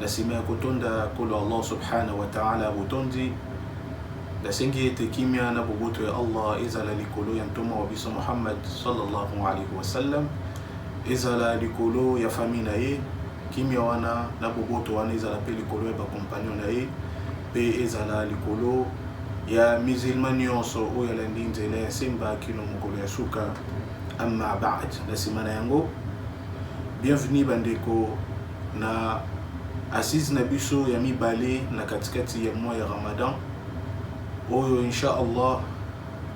na nsima ya kotonda kolo allah subhanahu wa taala botondi nasengi ete kimia na boboto ya allah ezala likolo ya ntoma wa biso muhammad sallallahu alaihi wasallam ezala likolo ya famille na ye kimia wana na boboto wana ezala mpe likolo ya bakompagnon na ye mpe ezala likolo ya musilma nyonso oyo alandi nzela ya semba kino mokolo ya suka amma bad na nsima na yango Bienvenue bandeko na Assises na biso ya mibale na katikati ya mois ya Ramadan oyo Inch'Allah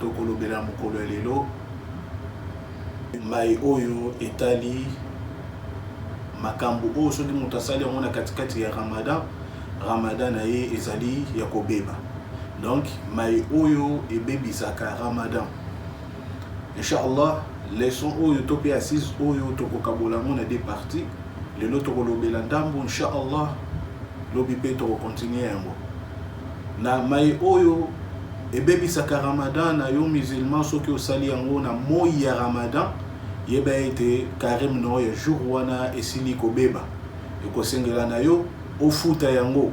tokolobela mokolo ya lelo mai oyo etali makambo oyo soki moto asali yango na katikati ya Ramadan Ramadan na ye ezali ya kobeba donc mai oyo ebebisaka Ramadan Inch'Allah, leçon oyo to pe assise oyo tokokabola yango na deux parties. Lelo tokolobela ndambo inch'Allah, lobi pe tokocontinue yango. Na mai oyo ebebisaka Ramadan na yo musulman soki osali yango na moi ya Ramadan, yeba ete carême na yo ya jour wana esili kobeba. Ekosengela na yo ofuta yango.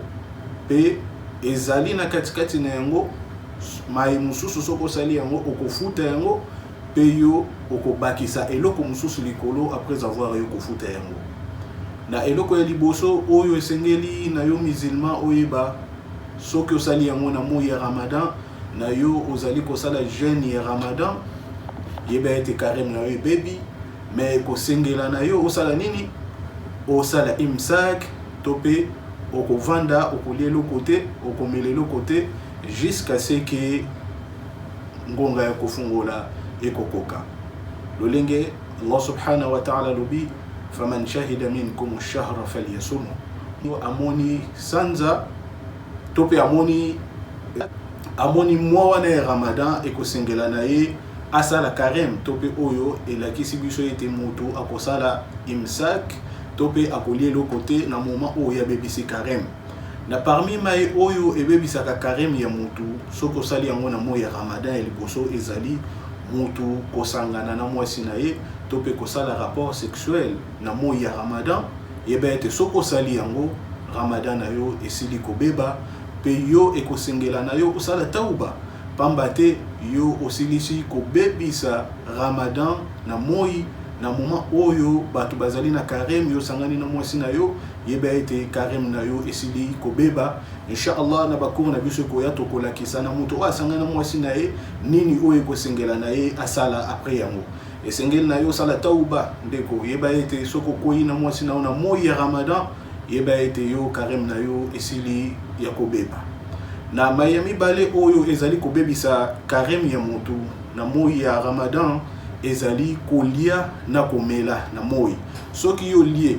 Pe ezali na katikati na yango mai mosusu soki osali yango okofuta yango mpe yo okobakisa eloko mosusu likolo après avoir yo kofuta yango na eloko ya liboso oyo esengeli na yo musulman oyeba soki osali yango na moi ya ramadan na yo ozali kosala jeune ya ramadan yeba ete kareme na yo ebebi me ekosengela na yo osala nini osala imsak to mpe okovanda okolia eloko te okomela eloko te Jusqu'à ce que ngonga ya kofungola ekokoka. Lolenge Allah subhanahu wa ta'ala alobi faman shahida minkum ash-shahra falyasumhu. Yo amoni sanza to pe amoni amoni mwa wana ya Ramadan ekosengela na ye asala karem to mpe oyo elakisi biso ete moto akosala imsak to mpe akolia eloko te na moma oyo abebisi karem Na parmi maye oyo ebebisaka careme ya mutu soki osali yango na moyi ya Ramadan ya liboso ezali mutu kosangana na mwasi na ye to pe kosala rapport sexuel na moyi ya Ramadan, yeba ete soki osali yango Ramadan na yo esili kobeba pe yo ekosengela na yo osala tawba pamba te yo osilisi kobebisa Ramadan na moyi na moment oyo batu bazali na careme yo osangani na mwasi na yo. yeba ete careme na yo esili kobeba inshallah na bacour na biso ekoya tokolakisa na moto oyo asangana mwasi na ye nini oyo ekosengela na ye asala apres yango esengeli na yo osala tauba ndeko yeba ete soki okwei na mwasi na yo na moi ya ramadan yeba ete yo careme na yo esili ya kobeba na mai ya mibale oyo ezali kobebisa careme ya motu na moi ya ramadan ezali kolia na komela na moi soki yo lie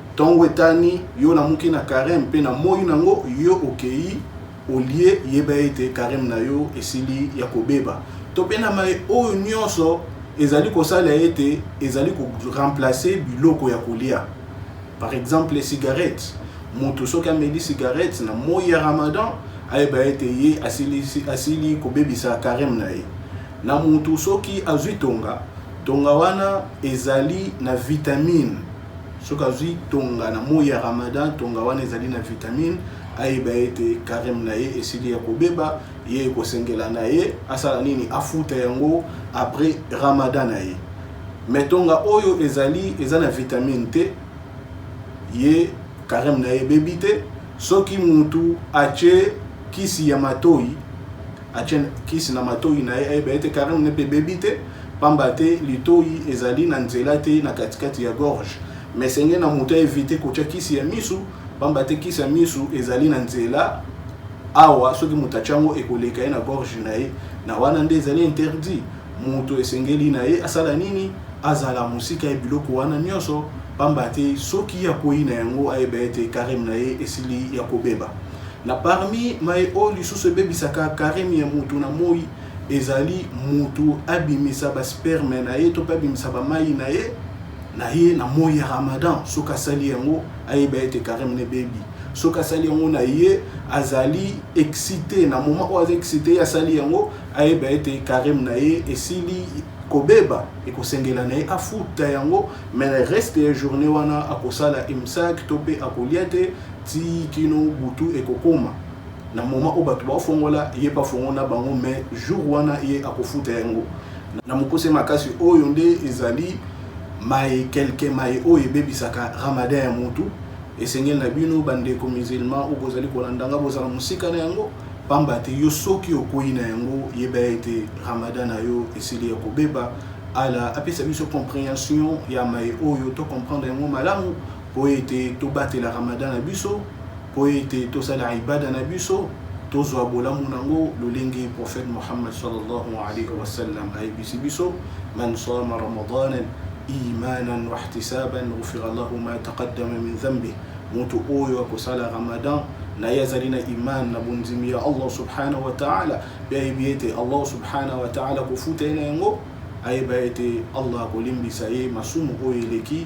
Tongo etani yo na muke na careme pe na moyi na ngo yo okeyi olie yeba ete careme na yo esili ya kobeba to pe na maye oyo nionso ezali kosala ete ezali ko remplacer biloko ya kolia par exemple cigarette mutu soki ameli cigarette na moyi ya ramadan ayeba ete ye asili asili kobebisa careme na ye na mutu soki azui tonga tonga wana ezali na vitamine Soki azwi tonga na moi ya Ramadan, tonga wana ezali na vitamine, ayeba ete careme na ye esili ya kobeba, ye ekosengela na ye asala nini? Afuta yango après Ramadan na ye. Mais tonga oyo ezali eza na vitamine te, ye careme na ye ebebi te. Soki mutu atye kisi ya matoyi atye kisi na matoyi na ye ayeba ete carine ne mpe ebebi te pamba te litoyi ezali na nzela te na katikati ya gorge mais senge na moto aevite kotya kisi ya misu pamba te kisi ya misu ezali na nzela awa soki moto atya yango ekoleka ye na gorge na ye na wana nde ezali interdit moto esengeli na ye asala nini azala mosika ya biloko wana nyonso pamba te soki akwei na yango ayeba ete careme na ye esili ya kobeba Na parmi maye oyo lisusu ebebisaka careme ya mutu na moyi ezali mutu abimisa ba sperme na ye to pe abimisa ba mayi na ye na ye na moyi ya Ramadan. Soki asali yango ayeba ete careme na ebebi. Soki asali yango na ye azali excite na moment oyo aza excite ye asali yango ayeba ete careme na ye esili kobeba ekosengela na ye afuta yango mais reste ya journee wana akosala imsak to pe akolia te Tii kino butu ekokoma na moment oyo batu bao fongola ye pa fongo na bango mais jour wana ye akofuta yango na mokuse makasi oyo nde ezali maye quelques maye oyo ebebisaka ramadan ya mutu esengeli na bino ba ndeko musulman ou bozali kolanda nga bozala musika na yango pamba te yo soki okueyi na yango yeba ete ramadan na yo esili ya kobeba Allah apesa biso comprehension ya maye oyo to comprendre yango malamu mpo ete tobatela Ramadan na biso, mpo ete tosala ibada na biso, tozwa bolamu nango lolenge prophète Muhammad sallallahu alayhi wa sallam ayebisi biso man sama ramadanan imanan wa ihtisaban ghufira lahu ma taqaddama min dhanbi moto oyo akosala ramadan na ye azali na iman na bondimi ya allah subhanahu wa taala mpe ayebi ete allah subhanahu wa taala akofuta ye na yango ayeba ete allah akolimbisa ye masumu oyo eleki